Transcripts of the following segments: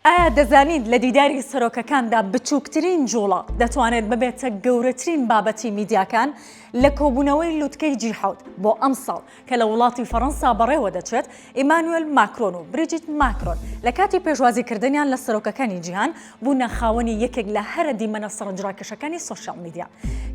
ئایا دەزانیت لە دیداری سەرۆکەکاندا بچووکترین جووڵە دەتوانێت ببێتە گەورەترین بابەتی میدیاکان؟ لە کۆبوونەوەی لوتکەی جی حەوت بۆ ئەمساڵ کە لە وڵاتی فەڕەنسا بەڕێوە دەچێت، ئیمانوێل ماکرۆن و بریجیت ماکرۆن لە کاتی پێشوازیکردنیان لە سەرۆکەکانی جیهان بوونە خاوەنی یەکێک لە هەرە دیمەنە سەرنجڕاکێشەکانی سۆشیاڵ میدیا.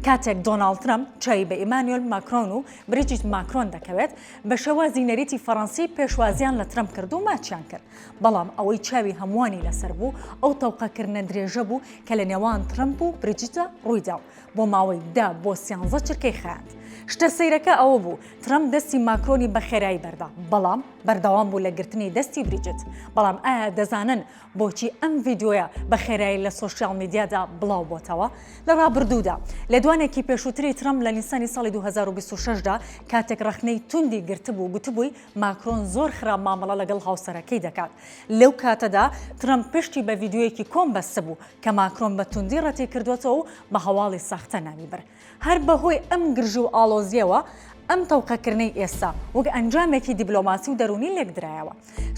کاتێک دۆناڵد ترەمپ چاوی بە ئیمانوێل ماکرۆن و بریجیت ماکرۆن دەکەوێت، بە شێوازی نەریتی فەڕەنسی پێشوازیان لە ترەمپ کرد و ماچیان کرد. بەڵام ئەوەی چاوی هەمووانی لەسەر بوو ئەو تەوقەکردنە درێژە بوو کە لە نێوان ترەمپ و بریجیتا ڕوویدا و بۆ ماوەی دە بۆ سیانزە چرکەی خایاند. شتە سەیرەکە ئەوە بوو ترەمپ دەستی ماکرۆنی بە خێرایی بەردا، بەڵام بەردەوام بوو لە گرتنی دەستی بریجیت. بەڵام ئایا دەزانن بۆچی ئەم ڤیدیۆیە بە خێرایی لە سۆشیاڵ میدیادا بڵاو بۆتەوە؟ لە ڕابردوودا، لێدوانێکی پێشووتری ترەمپ لە نیسانی ساڵی دوو هەزار و بیست و شەش دا کاتێک ڕەخنەی توندی گرتبوو، گوتبووی، ماکرۆن زۆر خراپ مامەڵە لەگەڵ هاوسەرەکەی دەکات، لەو کاتەدا ترەمپ پشتی بە ڤیدیۆیەکی کۆن بەستبوو کە ماکرۆن بە توندی ڕەتیکردووەتەوە و بە هەواڵی ساختە ناوی برد. هەر بەهۆی ئەم گرژی و ئاڵۆزییەوە ئەم تەوقەکردنەی ئێستا وەک ئەنجامێکی دیبلۆماسی و دەروونی لێکدرایەوە.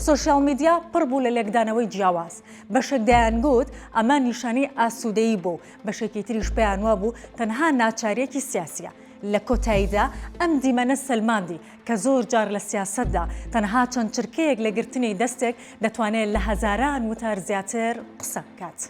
سۆشیال میدیا پڕ بوو لە لێکدانەوەی جیاواز، بەشێک دەیانگوت ئەمە نیشانەی ئاسوودەیی بوو، بەشێکی تریش پێیانوابوو تەنها ناچارییەکی سیاسییە. لە کۆتاییدا ئەم دیمەنە سەلماندی کە زۆر جار لە سیاسەتدا تەنها چەند چرکەیەک لە گرتنی دەستێک دەتوانێت لە هەزاران وتار زیاتر قسە بکات.